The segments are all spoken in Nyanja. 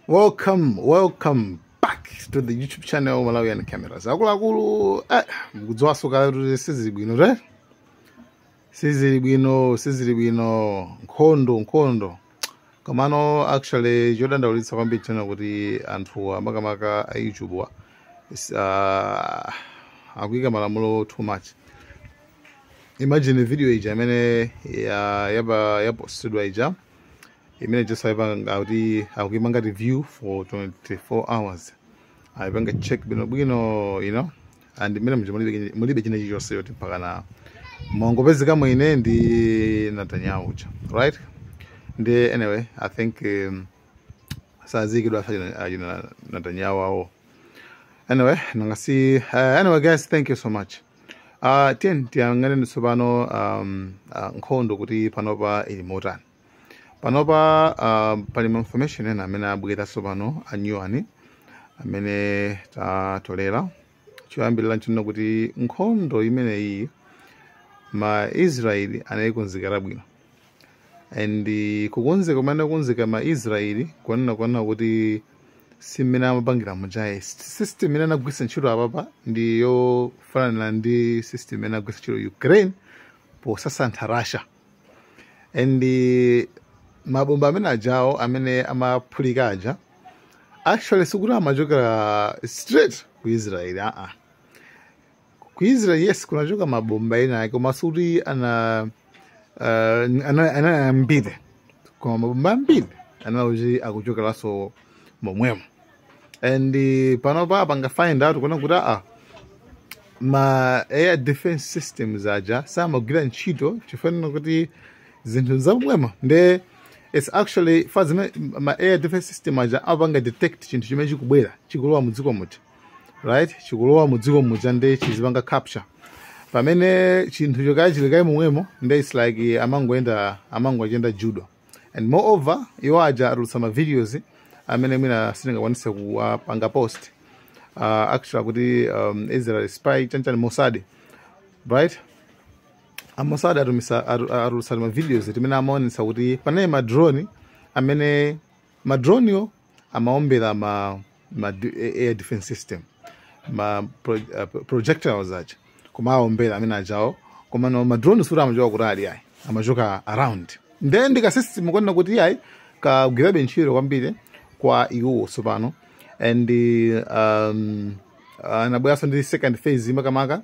welcome welcome back to the youtube channel malawian cameras akuluakulu eh, mukudziwanso kale kuti sizili bwino te sizili bwino sizili bwino nkhondo nkhondo komano actually chodandaulitsa kwambiri china kuti anthu amakamaka a youtube awa is- ah, akuyika malamulo too much imagine video ija imene ya- yapa- yapostedwa ija imene tisaipanga kuti akuimanga review for 24 hours aipanga check bwino bwino you know and imene muja mulibe- mulibe china chilichonse choti mpaka mwangopezeka mwina ndi Netanyahu uja right ndi anyway i think um, sadziwika achina Netanyahu awo anyway nanga si uh, anyway guys thank you so much uh, tiyeni tiyang'aneni tsopano um, uh, nkhondo kuti panopa ili motani panopa uh, pali ma information ena amene abwera tsopano a new one amene tatolera choyambirira nchonena kuti nkhondo imeneyi ma israeli anayikonzekera bwino and eh, kukonzeka kumene anakonzeka ma israeli kuona kunena kuti si mmene amapangira muja ayi system imene anagwiritsa ntchito apapa ndi yofanana ndi system imene anagwiritsa ntchito ukraine posasantha russia and eh, mabomba amene ajawo amene amaphulika aja actually sikuti amachokera straight ku israel aa uh -uh. ku israel yes kunachoka mabomba ena ake koma sikuti ana uh, ana- anali ambiri koma mabomba ambiri anali kuti akuchokeranso momwemo and eh, panopa apanga find out kuona kuti aa ma air defense systems aja samagwira ntchito chifukwa chonena kuti zinthu za momwemo nde its actually pamene ma air defense system aja amapanga detect chinthu chimene chikubwera chikulowa mu dziko muja right chikulowa mu dziko muja nde chizipanga capture pamene chinthu choti chili kale momwemo nde its like amangoyenda amangochinda judo and moreover iwo aja atulutsa ma videos amene mwina sindingakwanise kuwapanga post uh, actually kuti um, israel spy chanichani Mossad right a Mossad atumisa atu- atulutsa ma videos amene amaonesa kuti panali ma drone amene ma dronewo amaombera ma, ma d- a- air defense system ma pro, uh, pro- projectiles aja koma aombera amene ajawo komano ma drone sikuti amachoka kutali ayi amachoka around nde ndika system kunena kuti ayi kagwirabe ntchito kwambiri kwa iwo tsopano and um, anabweranso ndi second phase makamaka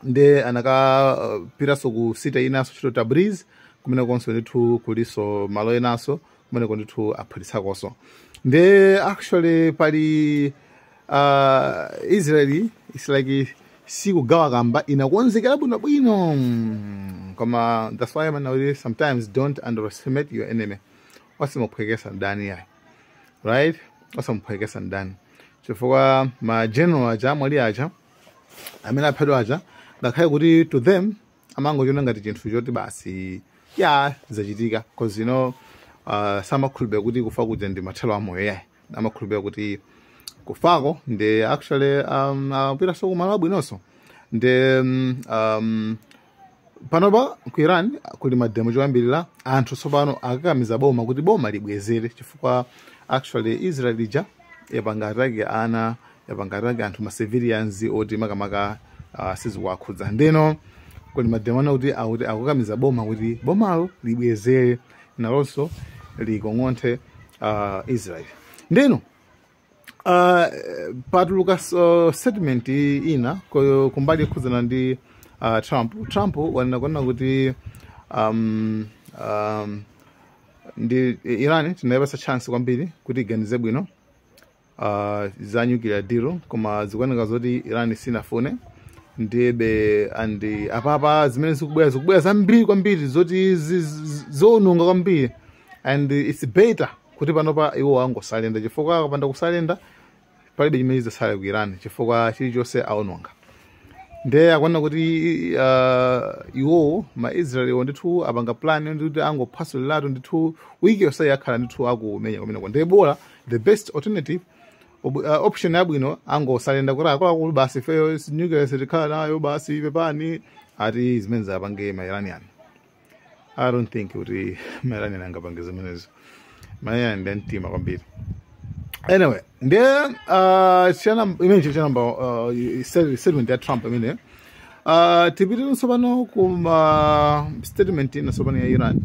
nde anakapiranso ku city inanso yoti tabriz kumenekonso ndithu kuliso malo enanso kumeneko ndithu aphulitsakonso nde actually pali uh, israeli its like si nkhambakamwa inakonzekera bwino bwino mm, koma that's why man always sometimes don't underestimate your enemy osamuphwekesa mdani yayi right osamuphwekesa mdani chifukwa ma general aja amwalira aja amene aphedwa aja ngakhale kuti to them amangochiona ngati chinthu choti basi yah zachitika cause you know uh, samakhulupirira kuti kufa kuja ndi mathero a moyo yayi amakhulupirira kuti kufako ndi actually um, apitanso kumalo abwinonso nde um, um, panopa ku iran kuli mademo kwambiri anthu tsopano akukakamiza boma kuti boma libwezere chifukwa actually israel ija yapanga attack ana yapanga attack anthu ma civilians oti makamaka uh, sizikuwakhudza ndeno kuli mademo ana kuti akuti akukakamiza boma kuti bomalo libwezere nalonso likong'onthe uh, israel ndeno Uh, patuluka uh, statement ina ko- kumbali yokhudzana ndi uh, trump trump wanena kunena kuti um, um, ndi iran tinayipasa chance kwambiri kuti iganize bwino uh, za nuclear deal koma zikuoneka zoti iran sinafune ndiyebe and apapa zimene zikubwera zikubwera zambiri kwambiri zoti zi- zi- zoononga kwambiri and it's better kuti panopa iwo angosarenda chifukwa akapanda kusarenda palibe chimene chidzatsale ku iran chifukwa chilichonse aononga nde akuona kuti uh, iwowo maisraeliwo ndithu apanga plan ndithu angophasuliratu ndithu wiki yonseyi akhala ndithu akumenya kumeneko nde bola the best alternative ob- uh, option yabwino angosarenda kuti akuluakulu basi ifeyo nuclear sitikhala nayo basi pepani ati zimene azapange ma iranian i don't think kuti ma iranian angapange zimenezo ma iranian ndi amtima kwambiri anyway nde uh, chana imene chili chanamba uh, state- statement ya trump imene uh, tipitire tsopano ku ma statement ina tsopano ya iran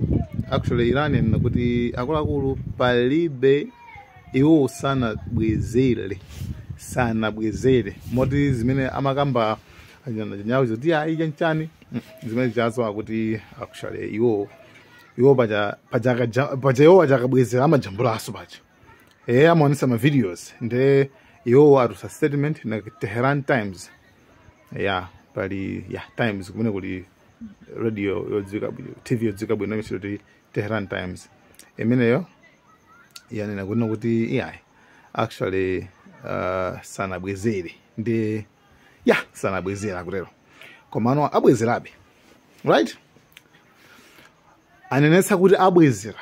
actually iran yanena kuti akuluakulu palibe iwo sanabwezere sanabwezere moti zimene amakamba anyawo zoti ayi chanchani zimene zazo akuti actually iwo iwo paja paja akaja- paja iwo paja akabwezera amajambulanso paja eya amaonesa ma videos nde iwo atulutsa statement ina tehran times ya pali ya times kumene kuli radio yodziwika bwino tv yodziwika bwino imene akuti tehran times imeneyo yanena kunena kuti iyayi actually uh, sanabwezere ndi ya sanabwezera kutero komano abwezerabe right anenetsa kuti abwezera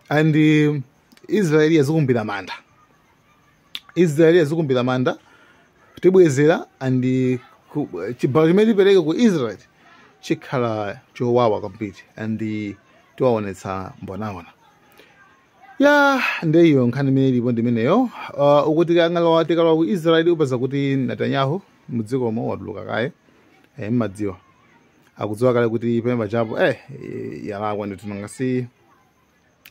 and um, israeli yazikumbira manda israeli yazikumbira manda tibwezera and uh, ku- chibalo chimene tipereke ku israeli chikhala chowawa kwambiri and uh, tiwaonetsa mbonaona ya nde iyo nkhani imene ilipo ndimeneyo uh, akuti kangalowa tikalowa ku israeli upeza kuti netanyahu mudzikomo watuluka kaye eh, mmadziwa akadziwa kale kuti pemba chapo eh, eh, yalakwa ndithu nanga si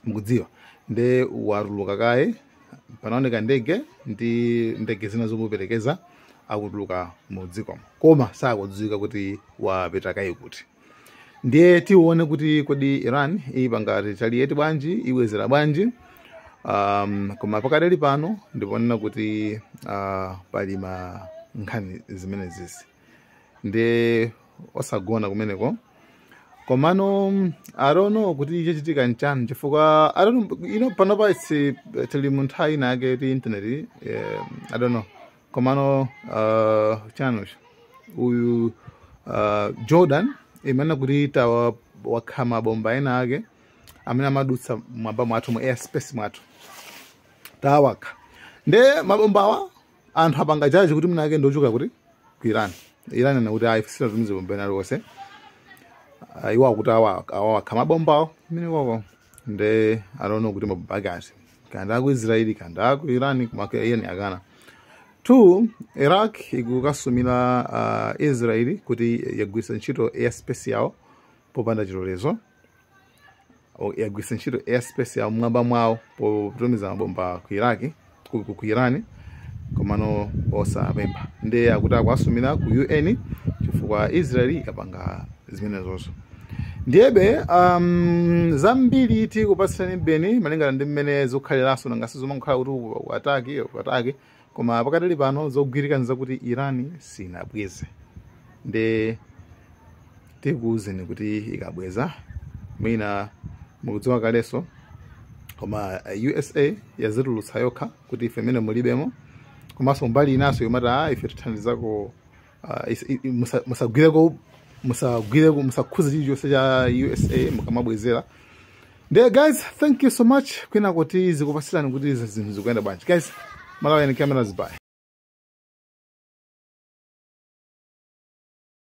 mukudziwa nde watuluka kaye panaoneka ndege ndi ndege zina zomuperekeza akutuluka mu dzikomo koma sakudziwika kuti wapita kaye kuti ndiye tione kuti kodi iran ipanga retaliate bwanji ibwezera bwanji um, koma pakadali pano ndi poonena kuti uh, pali ma nkhani zimenezisi nde osagona kumeneko komano mm, i don't know kuti chachitika nchani chifukwa i don't know, you know panopa its tili mu nthawi inake ti internet eh, i don't know komano uh, chinanso uyu uh, jordan imanena kuti tawakha mabomba ena ake amene amadutsa mwamba mwathu mu airspace mwathu tawakha nde mabombawa anthu apanga check kuti mwina ake ndiochoka kuti ku iran iran yakana kuti ayi sitinatumize bomba lina lililonse uh, iwo akuti awa- awawakha mabombawo mene koko nde i don't know kuti mabomba ake ati kapena aku israeli kapena aku iran koma iran yakana two iraq ikukasumira uh, israeli kuti yagwiritsa ntchito airspace yawo popanda chilolezo O- yagwiritsa ntchito airspace yawo mwamba mwawo potumiza mabomba ku iraki ku, ku, ku irani komano osapempha ndiye akuti akuwasumira ku un chifukwa israeli yapanga zimenezozo ndiyebe um, zambiri tikupatsiranibeni malingana ndi mmene zikukhaliranso nanga sizomangokhala kuti uku- uku ataki uku ataki koma pakadali pano zogwirika ndi zakuti iran sinabweze nde tikuwuzeni kuti ikabweza mwina mukudziwa kalenso koma eh, usa yazitulutsa yokha kuti ife mmenemu mulibemo komanso mbali inanso yomati ah ife tithandizako Ah, is- i- i- musa- musagwireko musagwireko musakhuze chilichonse cha usa mukamabwezera nde guys thank you so much kwinako tizikupatsirani kuti zinthu zikuyenda bwanji guys malawian cameras bye